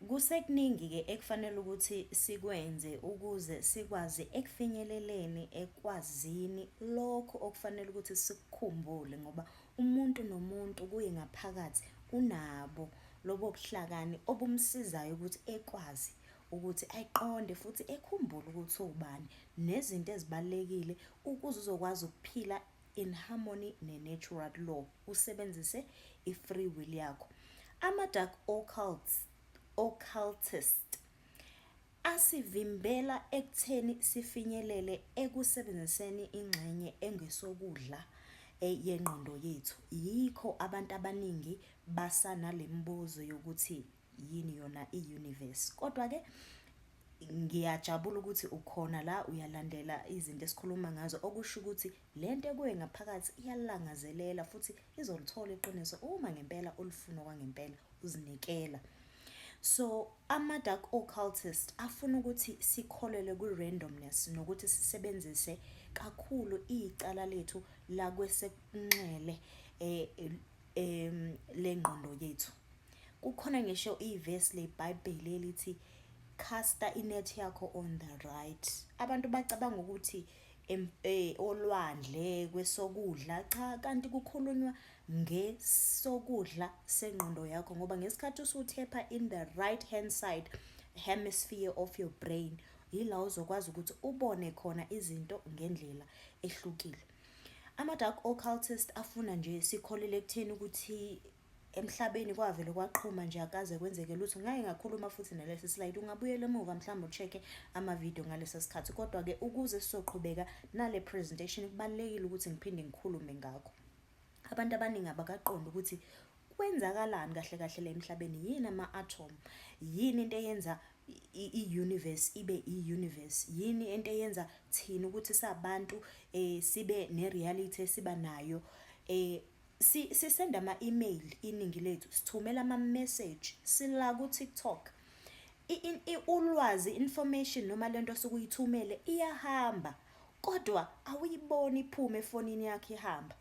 Kusekuningi-ke ekufanele ukuthi sikwenze ukuze sikwazi ekufinyeleleni ekwazini lokho okufanele ukuthi sikukhumbule ngoba umuntu nomuntu kuye ngaphakathi unabo lobo buhlakani obumsizayo ukuthi ekwazi ukuthi ayiqonde futhi ekhumbule ukuthi uwubani nezinto ezibalulekile ukuze uzokwazi ukuphila in harmony ne-natural law, usebenzise i-free will yakho. Ama-dark occults, occultist asivimbela ekutheni sifinyelele ekusebenziseni ingxenye engesokudla eh, yengqondo yethu. Yikho abantu abaningi basanale mibuzo yokuthi yini yona i-universe kodwa-ke ngiyajabula ukuthi ukhona la uyalandela izinto esikhuluma ngazo okusho ukuthi le nto ekuwe ngaphakathi iyalangazelela futhi izolithola iqiniso uma ngempela ulifuna kwangempela uzinikela so ama-dark occultist afuna ukuthi sikholelwe kwi-randomness nokuthi sisebenzise kakhulu icala lethu lakwesekunxele um em lengqondo yethu kukhona ngisho ivesi lebhayibheli elithi casta inet yakho on the right abantu bacabanga ukuthi eh, olwandle kwesokudla cha kanti kukhulunywa ngesokudla sengqondo yakho ngoba ngesikhathi usuthepha in the right hand side hemisphere of your brain yila uzokwazi ukuthi ubone khona izinto ngendlela ehlukile Ama-dark occultist afuna nje sikholele ekutheni ukuthi emhlabeni kwavele kwaqhuma nje akaze kwenzeke lutho ngake ngakhuluma futhi nalesi slide ungabuyela emuva mhlawumbe ucheck-e amavidiyo ngalesa sikhathi kodwa-ke ukuze sizoqhubeka nale presentation kubalulekile ukuthi ngiphinde ngikhulume ngakho abantu abaningi abakaqondi ukuthi kwenzakalani kahle kahle la emhlabeni yini ama-atom yini into eyenza i-universe ibe i-universe. Yini into eyenza thina ukuthi sabantu sibe ne-reality esiba nayo? Sisenda ama-email iningi lethu, sithumela ama-message, sila ku-TikTok. Ulwazi, information noma le nto osuke uyithumele iyahamba kodwa awuyiboni iphume efonini yakho ihamba.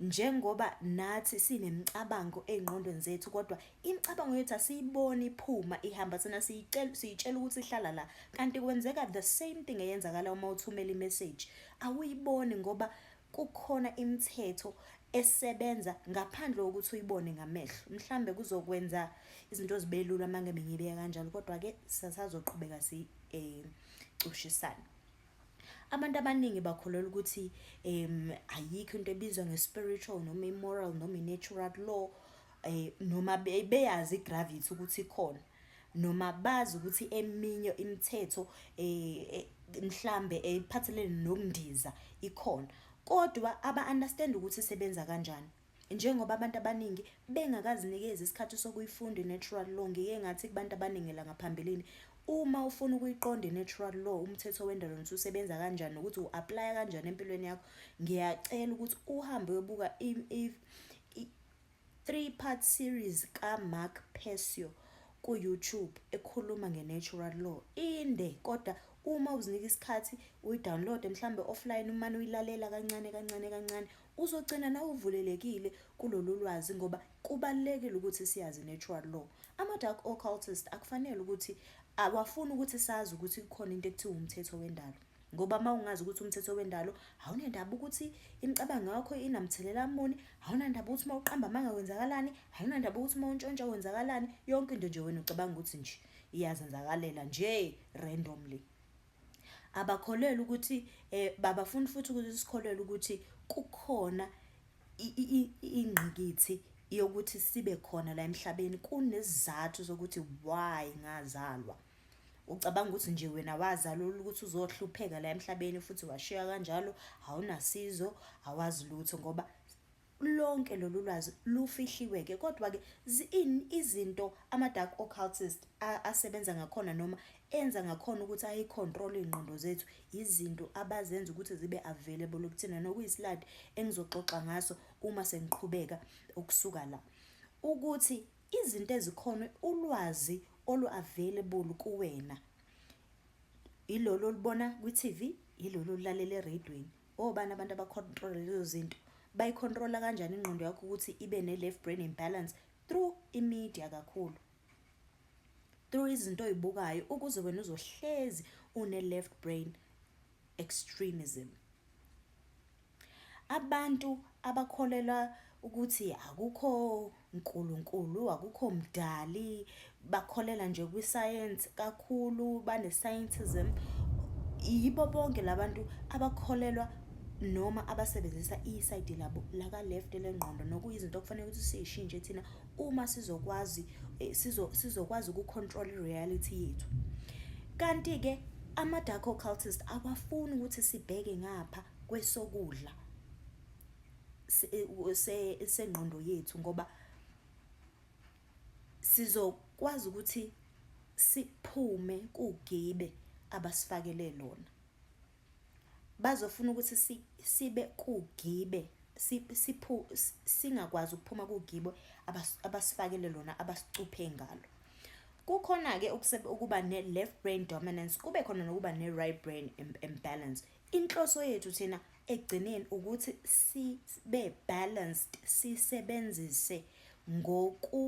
njengoba nathi sinemicabango ey'ngqondweni zethu kodwa imicabango yethu asiyiboni iphuma ihamba thina siyitshela ukuthi ihlala la kanti kwenzeka the same thing eyenzakala uma uthumela imeseji awuyiboni ngoba kukhona imithetho esebenza ngaphandle kokuthi uyibone ngamehlo mhlambe kuzokwenza izinto zibe lula uma ngebe ngibeka kanjalo kodwa-ke sasazoqhubeka sicushisane eh, Abantu abaningi bakholelwa ukuthi um ayikho into ebizwa nge-spiritual noma i-moral noma i-natural law um noma beyazi i-gravity ukuthi ikhona noma bazi ukuthi eminye imithetho um mhlambe ephathelene nokundiza ikhona, kodwa aba-understand-i ukuthi isebenza kanjani. Njengoba abantu abaningi bengakazinikezi isikhathi sokuyifunda i-natural law, ngike ngathi kubantu abaningi la ngaphambilini, uma ufuna ukuyiqonda i-natural law, umthetho wendalo nokuthi usebenza kanjani nokuthi u-aplaya kanjani empilweni yakho, ngiyacela ukuthi uhambe uyobuka i-three part series ka-Mark Persio ku-YouTube ekhuluma nge-natural law. Inde kodwa uma uzinika isikhathi uyi-download-e mhlawumbe offline umane uyilalela kancane kancane kancane Uzogcina nawe uvulelekile kulolulwazi ngoba kubalulekile ukuthi siyazi natural law. Ama dark occultist akufanele ukuthi awafuni ukuthi sazi ukuthi kukhona into ekuthiwa umthetho wendalo. Ngoba uma ungazi ukuthi umthetho wendalo awunendaba ukuthi imicabango yakho inamthelela muni, awunandaba ukuthi uma uqamba amanga kwenzakalani, awunandaba ukuthi uma untshontsha kwenzakalani, yonke into nje wena ucabanga ukuthi nje iyazenzakalela nje randomly. Abakholelwa ukuthi babafuni futhi ukuthi sikholelwe ukuthi kukhona ingqikithi yokuthi sibe khona la emhlabeni kunesizathu sokuthi why ngazalwa. Ucabanga ukuthi nje wena wazalelwa ukuthi uzohlupheka la emhlabeni futhi washiywa kanjalo awunasizo awazi lutho ngoba. Lonke lolu lwazi lufihliwe-ke, kodwa-ke ziini izinto ama-dark occultist asebenza ngakhona noma enza ngakhona ukuthi ayi-control-e iy'ngqondo zethu? Yizinto abazenza ukuthi zibe available kuthina, nokuyisiladi engizoxoxa ngaso uma sengiqhubeka ukusuka la. Ukuthi izinto ezikhona, ulwazi olu-available kuwena, ilolu olubona kwi-T_V, ilolu olulalela ereyidweni. obani abantu abacontrola lezo zinto bayicontrola kanjani ingqondo yakho ukuthi ibe ne-left brain imbalance through imedia kakhulu through izinto oyibukayo ukuze wena uzohlezi une-left brain extremism abantu abakholelwa ukuthi akukho Nkulunkulu, akukho mdali, bakholelwa nje kwisayensi kakhulu, bane-scientism. Yibo bonke labantu abakholelwa noma abasebenzisa isayidi labo laka-left lengqondo nokuyizinto okufanele ukuthi siyishintshe thina uma sizokwazi eh, sizokwazi ukucontrol i-reality yethu. Kanti-ke ama-dark occultist awafuni ukuthi sibheke ngapha kwesokudla sengqondo yethu ngoba sizokwazi ukuthi siphume kugibe abasifakele lona. Bazofuna ukuthi sibe kugibe singakwazi ukuphuma kugibe abasifakele lona abasicuphe ngalo. Kukhona-ke ukuba ne-left brain dominance, kube khona nokuba ne-right brain imbalance. Inhloso yethu thina ekugcineni ukuthi sibe balanced, sisebenzise ngoku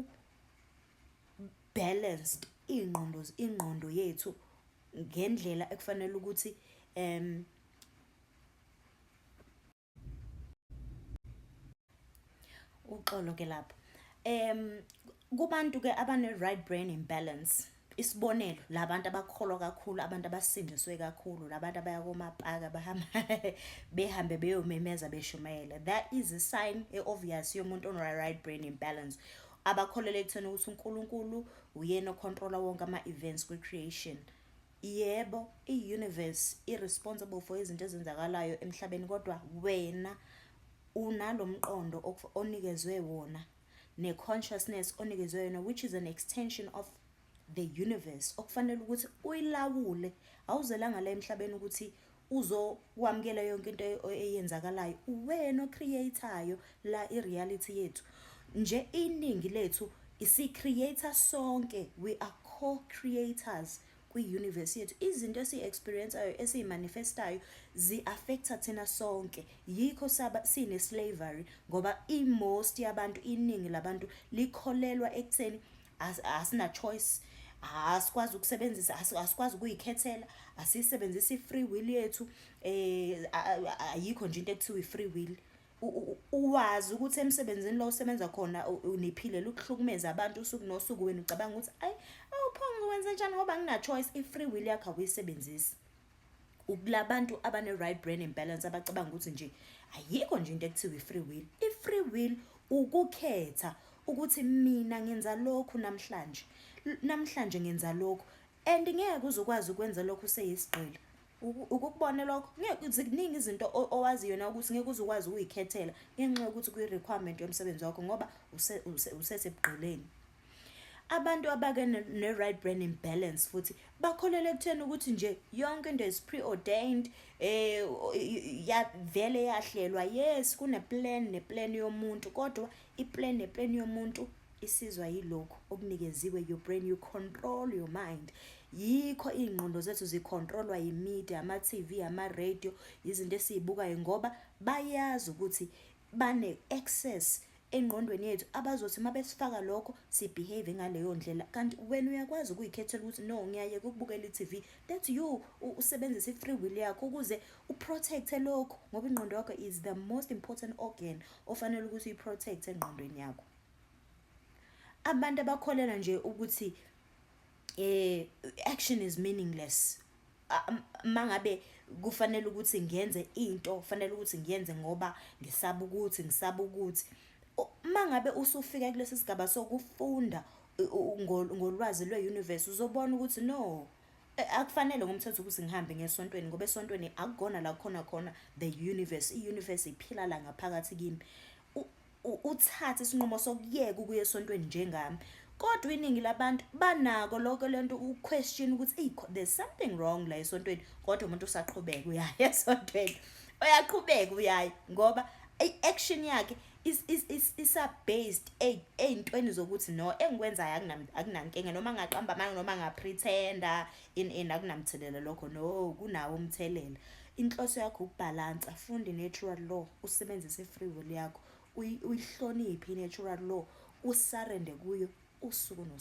balanced iy'ngqondo, ingqondo yethu ngendlela ekufanele ukuthi . uxolo ke lapho um kubantu ke abane-right brain imbalance isibonelo labantu abakholwa kakhulu abantu abasindiswe kakhulu labantu abaya komapaka bahamba behambe beyomemeza beshumayela that is a sign e-obvious yomuntu ono-right brain imbalance abakholelwa ekutheni ukuthi uNkulunkulu uyena ocontrola wonke ama-events kwi-creation Yebo, i-universe i-responsible for izinto ezenzakalayo emhlabeni kodwa wena unalo mqondo onikezwe wona ne-consciousness onikezwe yona which is an extension of the universe okufanele ukuthi uyilawule awuzelanga la emhlabeni ukuthi uzokwamukela yonke into eyenzakalayo uwena ocreate-ayo la i-reality yethu nje iningi lethu si-create sonke we are co-creators kwi-universe yethu izinto esiyi-experienceayo esiyi-manifestayo zi-affecta thina sonke yikho sine-slavery ngoba i-most yabantu iningi labantu likholelwa ekutheni asina choice asikwazi ukusebenzisa asikwazi ukuyikhethela asiyisebenzisi i-free will yethu eh ayikho nje into ekuthiwa i-free will uwazi ukuthi emsebenzini lo usebenza khona uniphile lukuhlukumeza abantu usuku nosuku wena ucabanga ukuthi ayi awuphonge wenze njani ngoba ngina-choice i-free will yakho awuyisebenzisi ukulabantu abane right brain and balance abacabanga ukuthi nje ayikho nje into ekuthiwa i-free will i-free will ukukhetha ukuthi mina ngenza lokhu namhlanje namhlanje ngenza lokhu and ngeke uzokwazi ukwenza lokhu seyisigqila ukukubona lokho ngeke ziningi izinto owazi yona ukuthi ngeke uzokwazi ukuyikhethela ngenxa yokuthi kuyi-requirement yomsebenzi wakho ngoba usesebugqileni Abantu abake ne-right brain imbalance futhi bakholelwa ekutheni ukuthi nje yonke into is preordained eh yavele yahlelwa yes kuneplan neplan yomuntu kodwa iplan neplan yomuntu isizwa yilokhu okunikeziwe your brain you control your mind yikho iy'ngqondo zethu zikhontrolwa yimedia ama-tv ama-radio izinto esiyibukayo ngoba bayazi ukuthi bane-access engqondweni yethu abazothi uma besifaka lokho sibehave ngaleyo ndlela kanti wena uyakwazi ukuyikhethela ukuthi no ngiyayeka ukubukela i-tv that you usebenzisa i-free will yakho ukuze uprotecte lokho ngoba ingqondo yakho is the most important organ ofanele ukuthi uyiprotecte engqondweni yakho abantu abakholelwa nje ukuthi eh action is meaningless mangabe kufanele ukuthi ngenze into kufanele ukuthi ngiyenze ngoba ngisaba ukuthi ngisaba ukuthi mangabe usufika kulesi sigaba sokufunda ngolwazi lwe-universe uzobona ukuthi no e, akufanele ngomthetho ukuthi ngihambe ngesontweni ngoba esontweni akukona la kukhona khona the universe i-universe iphila la ngaphakathi kimi uthathe isinqumo sokuyeka ukuya esontweni njengami kodwa iningi labantu banako lokho lento uquestion ukuthi hey there's something wrong la esontweni kodwa umuntu usaqhubeka uyaya esontweni uyaqhubeka uyayi ngoba i-action yakhe isa-based ey'ntweni zokuthi no engikwenzayo akunankinga noma ngaqamba amanga noma ngaprethenda in in akunamthelela lokho no kunawo umthelela inhloso yakho ukubhalansa funda i-natural law usebenzise i-free will yakho uyihloniphe i-natural law usarende kuyo usuku nosuku